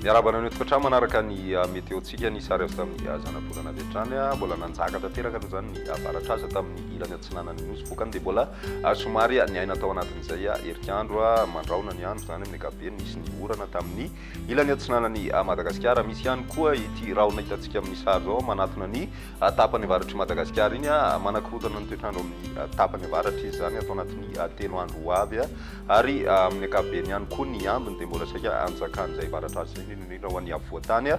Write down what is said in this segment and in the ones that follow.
Miarahaba anareo tokantrano manaraka ny ah, météo-tsika ny sary azo tamin'ny ah, zanabolana avy hatrany ah, mbola nanjaka tanteraka aloha izany ny avaratraza tamin'ny ilany atsinanan'ny nosy vokany dia mbola somary niaina tao anatin'izay herikandro mandraona ny andro izany amin'ny ankapobeny nisy ny orana tamin'ny Ilany atsinanan'i Madagasikara. Misy ihany koa ity rahona hitantsika amin'ny sary izao manatona ny tapany avaratr'i Madagasikara iny. Manakorontana ny toetr'andro amin'ny tapany avaratra izy izany ato anatin'ny telo andro ho avy ary amin'ny ankapobeny ihany koa ny ambiny dia mbola saika anjakan'izay varatra azy izay indrindra ho an'ny afovoantany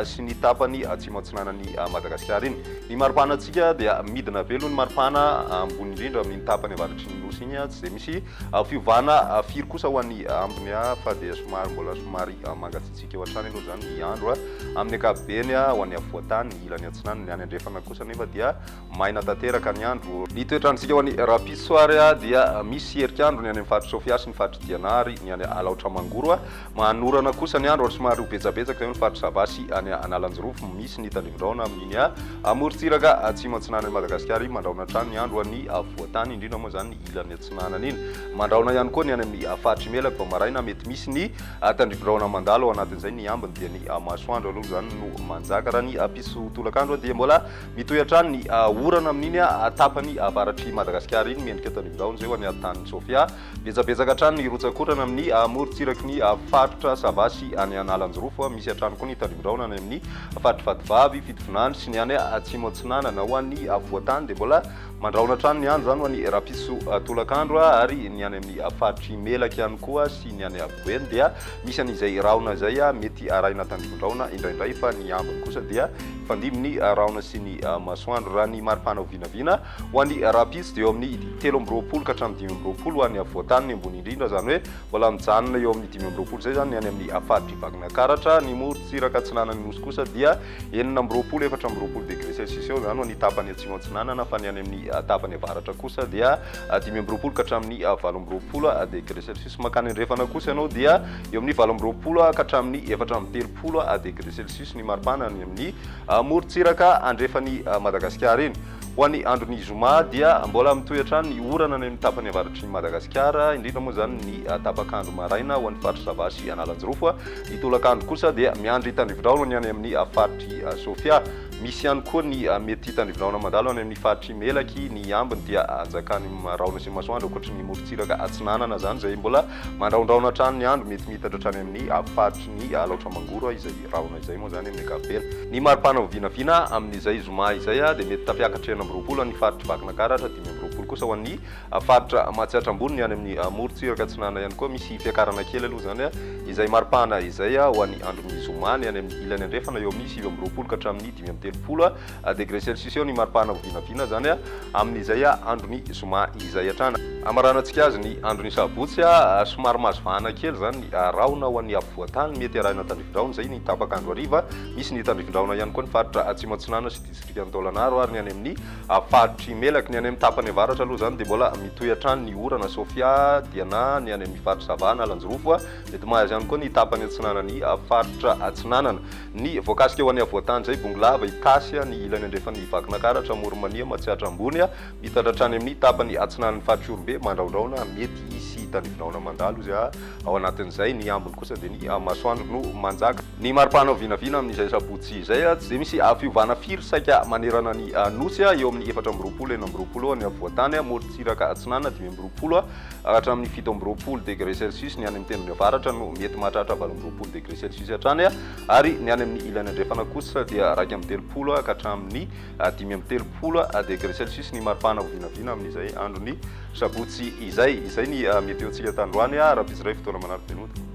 sy ny tapany atsimo atsinanan'i Madagasikara iny. Ny maripanantsika dia midina be aloha ny maripana ambony indrindra amin'ny tapany avaratry ny nosy iny tsy dia misy Fiovana firy kosa ho an'ny ambiny fa dia somary mbola somary mangatsiatsiaka eo hatrany aloha izany ny andro amin'ny ankapobeny ho an'ny afovoan-tany, ny ilany atsinanana, ny any andrefana kosa anefa dia maina tanteraka ny andro. Ny toetr'androntsika ho an'ny rahampitso ary dia misy herik'andro ny any amin'ny faritr'i Sofia sy ny faritr'i Diana ary ny any Alaotra Mangoro Manorana kosa ny andro ary somary ho betsabetsaka eo ny faritra Sava sy any Analanjirofo. Misy ny tandrifin-drahona amin'iny amorontsiraka atsimo-atsinanan'i Madagasikara iny. Mandrahona hatrany ny andro ho an'ny afovoan-tany, indrindra moa izany ny ilany atsinanana iny. Mandrahona ihany koa ny any amin'ny faritra Imelaka vao maraina. Mety misy ny tandrifin-drahona mandalo ao anatin'izay. Ny ambiny dia ny masoandro aloha izany no manjaka. Raha ny piso tolakandro dia mbola mitohy hatrany ny orana amin'iny tapany avaratr'i Madagasikara iny. Mendrika tandrifin-drahona izay ho an'i Antan'i Sofia. Betsabetsaka hatrany ny rotsak'orana amin'ny amorontsiraky ny faritra Sava sy any Analanjirofo. Misy hatrany koa ny tandindoraona any amin'ny faritr'i Vatovavy, Fitovinany sy ny any Atsimo Atsinanana. Ho an'ny afovoan-tany dia mbola mandrahona hatrany ny andro, izany ho an'ny rapiso tolakandro ary ny any amin'ny faritr'i Melaky ihany koa sy ny any Afovoany dia misy an'izay rahona izay mety arahina tandindoraona indraindray fa ny ambiny kosa dia hifandimby ny rahona sy ny masoandro. Raha ny maripana ho vinavina Ho an'ny rahampitso dia eo amin'ny telo amby roapolo ka hatramin'ny dimy amby roapolo ho an'ny afovoantany ny ambony indrindra, izany hoe mbola mijanona eo amin'ny dimy amby roapolo izay izany ny any amin'ny faritr'i Vakinankaratra, ny morontsiraka atsinanan'ny Nosy kosa dia enina amby roapolo, efatra amby roapolo degré celsius eo, izany ho an'ny tapany atsimo atsinanana, fa ny any amin'ny tapany avaratra kosa dia dimy amby roapolo ka hatramin'ny valo amby roapolo degré celsius. Mankany andrefana kosa ianao dia eo amin'ny valo amby roapolo ka hatramin'ny efatra amby telopolo degré celsius ny maripana any amin'ny morontsiraka andrefan'i Madagasikara iny. Ho an'ny andron'ny zoma dia mbola mitohy hatrany ny orana any amin'ny tapany avaratry ny Madagasikara, indrindra moa izany ny tapak'andro maraina ho an'ny faritr'i Sava sy Analanjirofo. Ny tolakandro kosa dia miandry tandrivindraona ny any amin'ny faritr'i Sofia. Misy ihany koa ny mety tandrivindraona mandalo any amin'ny faritr'i Melaky. Ny ambiny dia anjakan'ny rahona sy masoandro ankoatry ny morontsiraka atsinanana izany izay mbola mandrahondrahona hatrany ny andro, mety miitatra hatrany amin'ny faritry ny Alaotra Mangoro izay. Rahona izay moa izany amin'ny ankapobeny. Ny mari-pana ho vinavina amin'izay zoma izay dia mety tafiakatra enina amby roapolo ho an'ny faritra Vakinakaratra ary dimy amby roapolo kosa ho an'ny faritra Matsiatra Ambony. Ny any amin'ny morontsiraka atsinanana ihany koa misy fiakarana kely aloha izany izay mari-pana izay ho an'ny andron'ny zoma. Ny any amin'ny ilany andrefana eo amin'ny sivy amby roapolo ka hatramin'ny dimy amby telopolo Degré Celsius eo ny maripana ho vinavina izany amin'izay andron'ny zoma izay hatrany. Hamaranantsika azy ny andron'ny sabotsy, somary mahazo vahana kely izany ny rahona ho an'ny afovoan-tany, mety hiarahina tandrifin-drahona izay ny tapaka andro hariva, misy ny tandrifin-drahona ihany koa ny faritra atsimo atsinanana sy distrikan'i Taolagnaro ary ny any amin'ny faritr'i Melaky. Ny any amin'ny tapany avaratra aloha izany dia mbola mitohy hatrany ny orana, Sofia, Diana, ny any amin'ny faritra Sava, Analanjirofo, mety mahazo ihany koa ny tapany atsinanan'ny faritra atsinanana. Ny voakasika eo an'Iavoatany izay bongolava, Itasy, ny ilany andrefan' i Vakinakaratra, Amoronmania, Matsiatra Ambony, mitatra hatrany amin' ny tapany atsinanin' ny Faritrorobe, Mandraondraona, mety hisy hitanivinaona mandalo izy ao anatin' izay, ny ambiny kosa dia ny masoandro no manjaka. Ny mari-panao vinavina amin' izay sabotsy izay, tsy dia misy fiovana firy, saika manerana ny Nosy, eo amin' ny efatra amby roapolo, enina amby roapolo, any Afovoantany, morontsiraka atsinanana, dimy amby roapolo, Hatramin'ny fito amby roapolo degré Celsius ny any amin'ny tendrony avaratra no mety mahatratra valo amby roapolo degré Celsius hatrany ary ny any amin'ny ilany andrefana kosa dia iraika amby telopolo ka hatramin'ny dimy amby telopolo degré Celsius ny maripana ho vinavina amin'izay andron'ny sabotsy izay. Izay ny météo-ntsika tandroany, raha mpitsiray fotoana manara-penota.